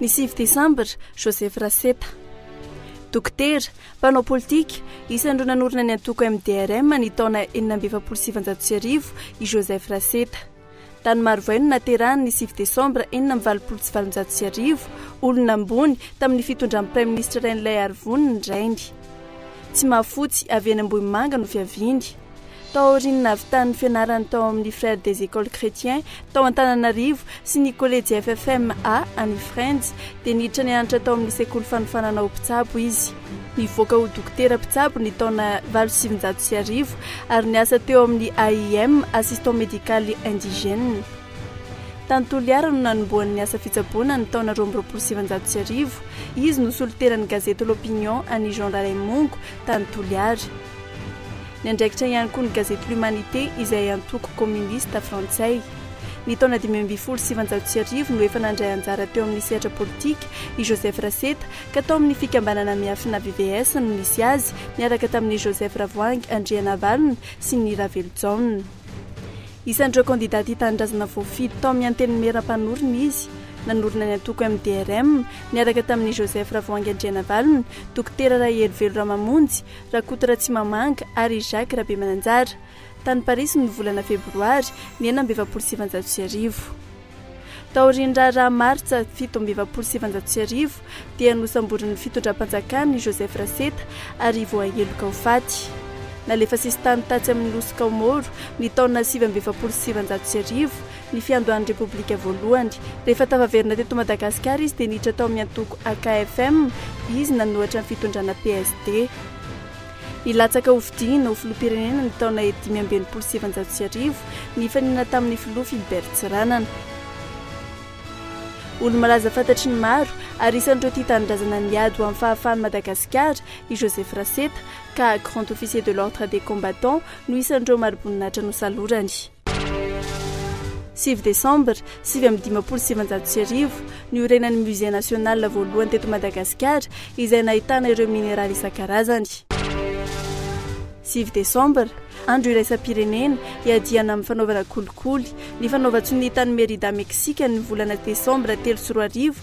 Ny sivy desambra, Joseph Raseta. Dokotera, mpanao politika, isan'ireo nanorina ny antoko MDRM ny taona enina amby efapolo sy sivinjato sy arivo i Joseph Raseta. Tany Marovay no naterahany ny sivy desambra enina amby valopolo sy valonjato sy arivo. Olona ambony tamin'ny fitondran'ny Praiminisitra Rainilaiarivony ny rainy. Tsimahafotsy, avy eny Ambohimanga, no fiaviany. Tao aorian'ny nahavitan'ny fianarany tao amin'ny Frères des Écoles Chrétiens tao Antananarivo sy ny Kolejy FFM A any Frenjy dia niditra nianatra tao amin'ny Sekoly Fanofanana ho Mpitsabo izy. Nivoaka ho Dokotera Mpitsabo ny taona valo sy sivinjato sy arivo ary niasa teo amin'ny AIM, Assistant Médical Indigène. Tany Toliara no nanombohany ny asa fitsaboana ny taona roa amby roapolo sy sivinjato sy arivo. Izy no solontenan'ny gazety L'Opinion an'i Jean Ralaimongo tany Toliara. Niandraikitra ihany koa ny gazety L'Humanité izay antoko kominista frantsay. Ny taona dimy ambin'ny folo sy sivanjato sy arivo no efa nandray anjara teo amin'ny sehatra politika i Joseph Raseta ka tao amin'ny fikambanana miafina VVS no nisy azy niaraka tamin'i Joseph Ravoahangy Andrianavalona sy ny Ravelojaona. Isan'ireo kandida tia tanindrazana voafidy tao amin'ny Antenimiera mpanorina izy. Nanorina ny antoko MDRM niaraka tamin'i Joseph Ravoahangy Andrianavalona, Dokotera Rahelivelo Ramamonjy, Rakoto Ratsimamanga ary Jacques Rabemananjara, tany Parisy ny volana febroary ny enina amby efapolo sy sivinjato sy arivo. Taorian'ny raharaha martsa fito amby efapolo sy sivinjato sy arivo dia nosamborin'ny fitondram-panjakana i Joseph Raseta ary voaheloka ho faty. Nalefa sisintany tatsy amin'ny nosy Kaomoro ny taona sivy amby efapolo sy sivinjato sy arivo ny fiandohan'ny Repoblika voalohany. Rehefa tafaverina teto Madagasikara izy dia niditra tao amin'ny antoko AKFM, izy nanohatra ny fitondrana PSD. Nilatsaka ho fidiana ho filoham-pirenena ny taona dimy amby enimpolo sy sivinjato sy arivo, nifaninana tamin'ny filoha Philbert Tsiranana. Olo-malaza fantatry ny maro, ary isan'ireo tia tanindrazana niady ho amin'ny fahafahan'i Madagasikara, i Joseph Raseta, ka Grand Officier de l'Ordre des Combattants no isan'ireo mari-boninahitra nosalorany. Sivy Desambra sivy amby dimampolo sy sivinjato sy arivo, niorenan'ny Musée National voalohany teto Madagasikara, izay nahitana ireo mineraly isan-karazany. Sivy Desambra, Andro iraisam-pirenena, iadiana amin'ny fanaovana kolikoly. Ny fanaovan-tsonia tany Mérida, Meksika, ny volana Desambra telo sy roa arivo,